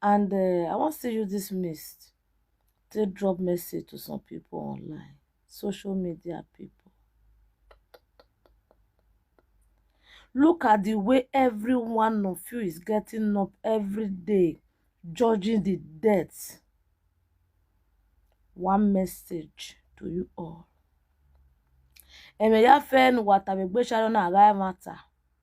And uh, I wan still use this mist to drop message to some people online, social media people. Look at the way every one of you is getting up every day, judging the death. One message to you all. Emeyafen Watabegbesharona Agai Matter.